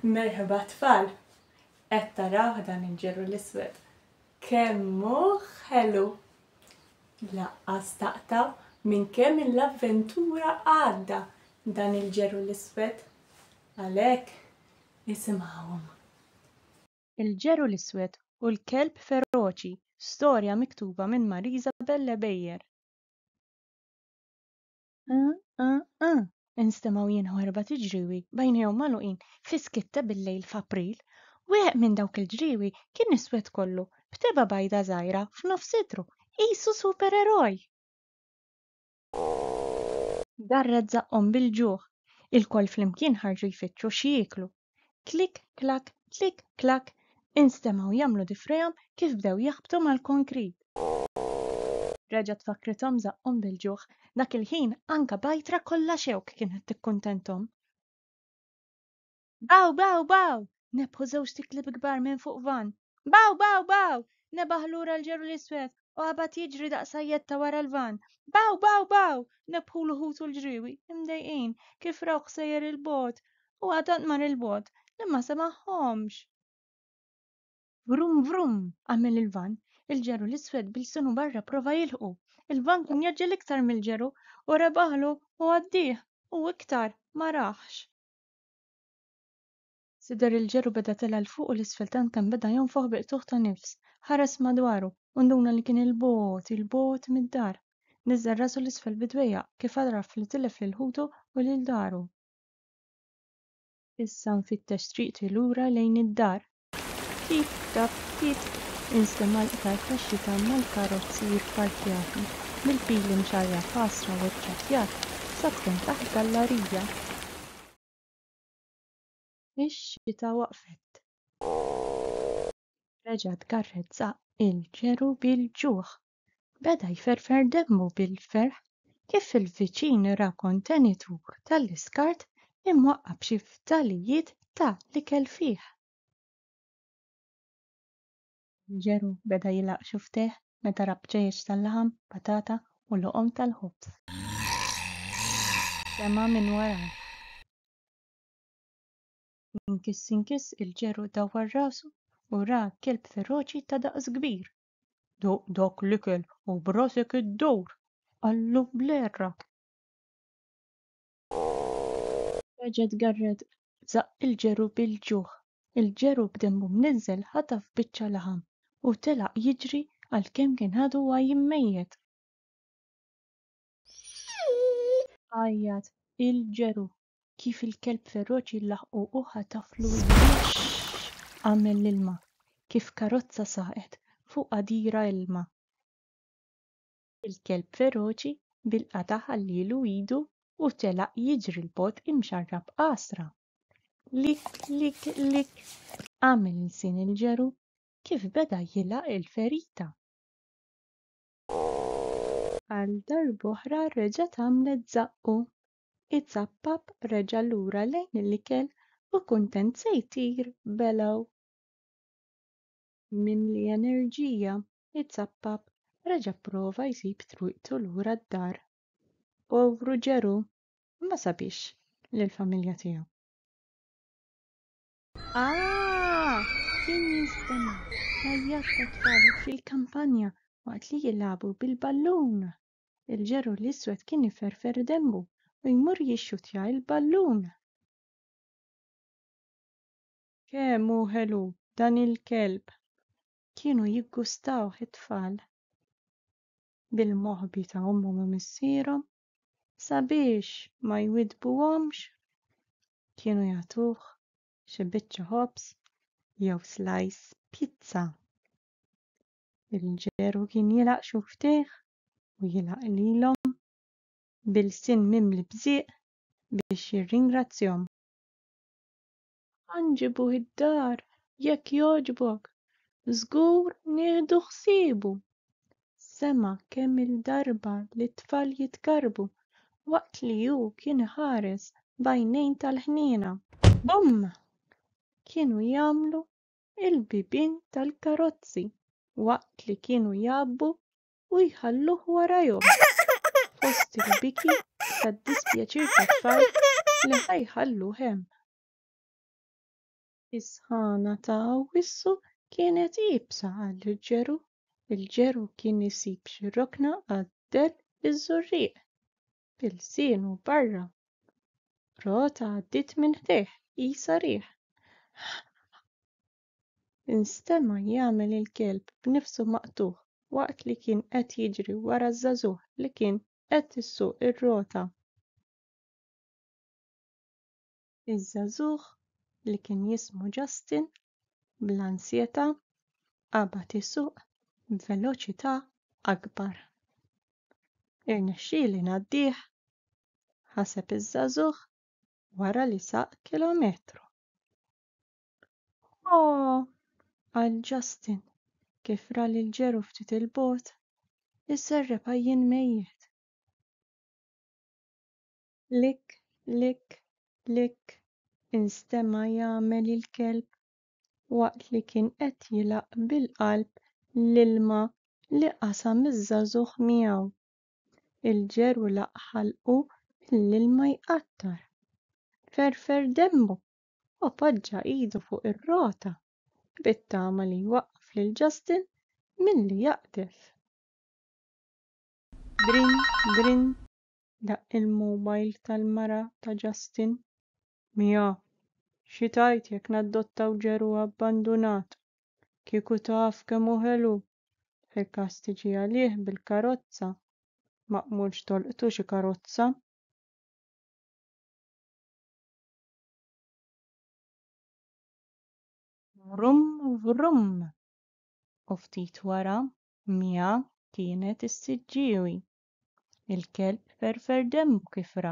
Merħba tfal! Qed tarawh dan il-ġeru l-iswed? Kemm hu ħelu! Laqqas taqtaw minn kemm il-avventura għadda dan il-ġeru l-iswed. Għalhekk isimgħuhom. Il-Ġeru l-Iswed u l-Kelb Feroċi, Storja miktuba minn Marisa Bellebejer. Aa-aa-aa! instemgħu jienħu erbat iġriewi b'għajnejhom magħluqin fi skiet ta' bil-lejl f'April. Wieħed minn dawk il-ġriewi kien iswed kollu, b'tebgħa bajda żgħira f'nofs itru, qisu supereroj! Garret żaqqhom bil-ġuħ. Ilkoll flimkien ħarġu jfittxu x'jieklu. Klik klak, klik klak, instemgħu jagħmlu difrihom kif bdew jaħbtu mal-konkrit. Reġgħet fakrithom żaqqhom bil-ġuħ. Dak il-ħin anka bajtra kollha xewk kienet tikkuntenthom. Baw, baw, baw! Nebbħu żewġt iklieb kbar minn fuq vann. Baw, baw, baw! Nebaħ lura l-ġeru l-iswed u qabad jiġri daqs sajjetta wara l-vann. Baw, baw, baw! Nebbħulu ħutu l-ġriewi, imdejqin, kif rawh sejjer il-bogħod. U għadant mar il-bogħod, li ma semagħhomx. Vrum, vrum! għamel il-vann. Il-ġeru l-iswed b'ilsunu barra prova jilħqu. Il-vann kien jgħaġġel iktar mill-ġeru u rebaħlu u għaddieh u iktar ma rahx. Sidher il-ġerr u beda tela' 'l fuq u 'l isfel tant kemm beda jonfoħ bi qtugħ ta' nifs. Ħares madwaru u nduna li kien 'il bogħod, 'il bogħod mid-dar. Niżżel rasu 'l isfel bi dwejjaq, kif għaraf li tilef lil ħutu u lil daru. Issa nfittex triqti lura lejn id-dar. Tip tap, tip! Instema' l-qtar tax-xita mal-karozzi jipparkjati, bil-pili mxarrja f'għasra u ċċattjat, sab'kemm taħt gallarija. Ix-xita waqfet. Reġa' tgarrezza il-ġeru bil-ġuħ. Beda jferfer demmu bil-ferħ kif il-viċin ra kontenitur tal-iskart imwaqqgħa b'xi fdalijiet ta' l-ikel fih. Il-ġeru beda jilgħaq xufftejh meta ra bċejjeċ tal-laħam, patata u loqom tal-ħobż. Sema' minn warajh. Inkiss inkiss il-ġeru dawwar rasu u ra kelb feroċi ta' daqs kbir. Duq dak l-ikel u b'rasek iddur! qallu bl-għerra. Reġa' tgarred żaqq il-ġeru bil-ġuħ. Il-ġeru b'demmu mniżżel ħataf biċċa laħam u telaq jiġri għalkemm kien għadu għajjim mejjet. Għajjat il-ġeru Kif il-kelb feroċi laħqu u ħataflu l-biex għamel l-ilma, kif karozza saqet fuq għadira ilma. Il-kelb feroċi bil-qatgħa ħallielu idu u telaq jiġri l-bogħod imxarrab qasra. Lik, lik, lik, għamel lsien il-ġeru kif beda jilgħaq il-ferita. Għal darb'oħra reġgħet għamlet żaqqu. Izappap reġa' lura lejn il-ikel u kuntent se jtir belgħu. Mimli enerġija, Izappap reġa' pprova jsib triqtu lura d-dar. Povru Ġeru, ma sabiex lill-familja tiegħu. Aah! Kien jistenna l-għajjat tat-tfal fil-kampanja waqt li jilagħbu bil-ballun. Il-ġeru l-iswed kien iferfer denbu u jmur jixxuttja il-ballun. Kemm hu ħelu dan il-kelb! Kienu jiggustawh it-tfal bil-moħbi ta' ommhom u missierhom sabiex ma jwiddbuhomx kienu jagħtuh xi biċċa ħobż jew slice pizza. Il-ġeru kien jilgħaq xufftejh u jilgħaq lilhom b'ilsien mimli b'żieq biex jirringrazzjahom. Ħa nġibuh id-dar, jekk jogħġbok, żgur nieħdu ħsiebu! sema' kemm-il darba lit-tfal jitkarrbu waqt li hu kien iħares b'għajnejn tal-ħniena. Bumm! Kienu jagħmlu il-bibien tal-karozzi waqt li kienu jgħabbu u jħalluh warajhom, fost il-biki tad-dispjaċir tat-tfal li ħa jħalluh hemm. Is-sħana ta' Awwissu kienet iebsa għall-ġeru, il-ġeru kien isib xi rokna għad-dell iż-żurrieq, Bilsienu barra. Rota għaddiet minn ħdejh, qisha riħ. Instema' jagħmel il-kelb b'nifsu maqtugħ waqt li kien qed jiġri wara ż-żagħżugħ li kien qed issuq ir-rota. Iż-żagħżugħ li kien jismu Justin, bl-ansjetà, qabad isuq b'veloċità akbar. Irnexxieli ngħaddih? ħaseb iż-żagħżugħ wara li saq kilometru. O! qal Justin kif ra lil ġeru ftit il-bogħod iserreb għajjien mejjet. Lik, lik, lik, instema' jagħmel il-kelb waqt li kien qed jilgħaq bil-qalb l-ilma li qasam iż-żagħżugħ miegħu. Il-ġeru laqgħa ħalqu mill-ilma jqattar. Ferfer denbu u poġġa idu fuq ir-rota bit-tama li jwaqqaf lil Justin milli jaqdef. Grin, grin, Daqq il-mowbajl tal-mara ta' Justin. Mia, xi tgħid jekk nadottaw ġeru abbandunat? Kieku taf kemm hu ħelu! Fil-każ tiġi għalih bil-karozza. Maqbulx tolqtu xi karozza. Vrum vrum! U ftit wara, Mia kienet issiġġiewi Il-kelb ferfer demmu kif ra,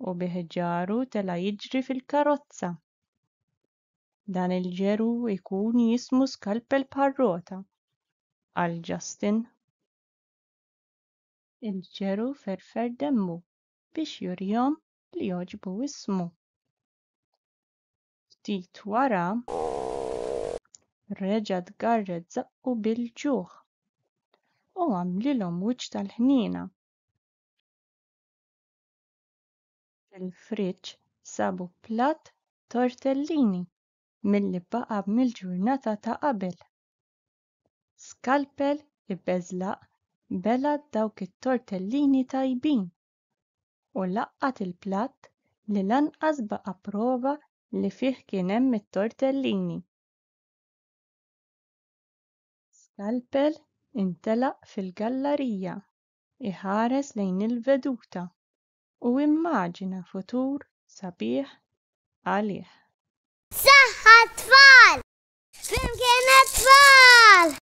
u bi ħġaru tela' jiġri fil-karozza. Dan il-ġeru jkun jismu skalpel bħar-rota, qal Justin. Il-ġeru ferfer demmu biex jurihom li jogħġbu ismu. Ftit wara, reġa' tgarred żaqqu bil-ġuħ u għamlilhom wiċċ tal-ħniena. Fil-friġġ sabu platt tortellini milli baqa' mill-ġurnata ta' qabel. Skalpel ibeżlaq bela' dawk it-tortellini tajbin u laqqat il-platt li lanqas baqa' prova li fih kien hemm it-tortellini. Skalpel intelaq fil-gallarija iħares lejn il-veduta u immaġina futur sabiħ għalih. Saħħa t-tfal! Flimkien għat-tfal!